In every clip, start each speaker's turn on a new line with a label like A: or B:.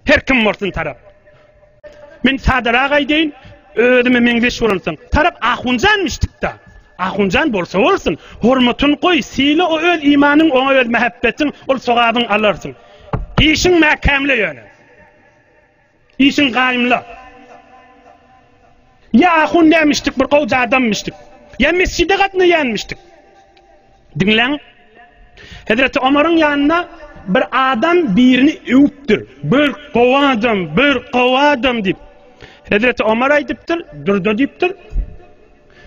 A: Her kim bolsun tarap. Men sadarak aýdaýyn, özüme meňzeş bolansoň, tarap ahunjanmyş dikda. Ahunjan bolsa bolsun, hormatyn goý, syla o öz imanyň, oňa öz mähebbetiň, ol sogabyň alarsyň. Işiň mäkämle ýöne. Işiň gaýymla. Ýa ahundämişdik, bir gowja adamymyşdyk. Ýa mesjide gatnaýanmyşdyk. Diňläň. Hezreti Omaryň ýanyna bir adam birini öwüpdir. Bir gowy adam, bir gowy adam diýip. Hezreti Omar aýdypdyr, Durdy diýipdir.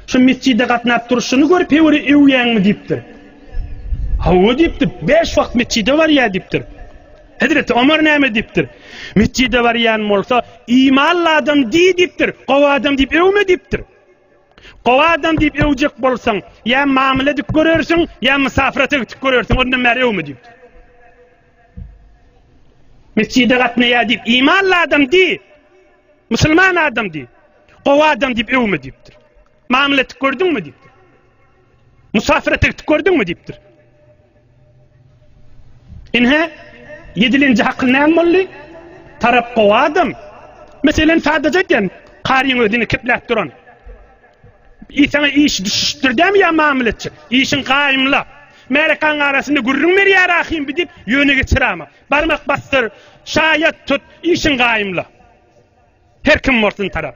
A: Şu metjide gatnap durşuny görüp hewery öwýäňmi diýipdir. Hawa diýipdir. Bäş wagt metjide barýar diýipdir. Hezreti Omar näme diýipdir? Metjide barýan bolsa, imanly adam diý diýipdir. Gowy adam diýip öwme diýipdir. Gowy adam diýip öwjek bolsaň, ýa mamla edip görersiň, ýa mysafyra tegtik görersiň, ondan bäri öwme diýipdir. Metjide gatnaýar diýip, imanly adam diý. Musulman adam diý. Gowy adam diýip öwme diýipdir. Mamla etdik gördüňmi diýipdir. Musafir etdik gördüňmi diýipdir. Inhe yedilinci hakyl näme boldy? Tarap gowy adam. Meselen sadaja eken karyň özüni kepläp duran. Isana iş düşüşdir dämi ýa mamla etjek? Işiň gaýymla. Märekan arasynda gürrüň berýär ahim diýip ýöne geçirama. Barmak basdyr, şaýat tut, işiň gaýymla. Her kim bolsun tarap.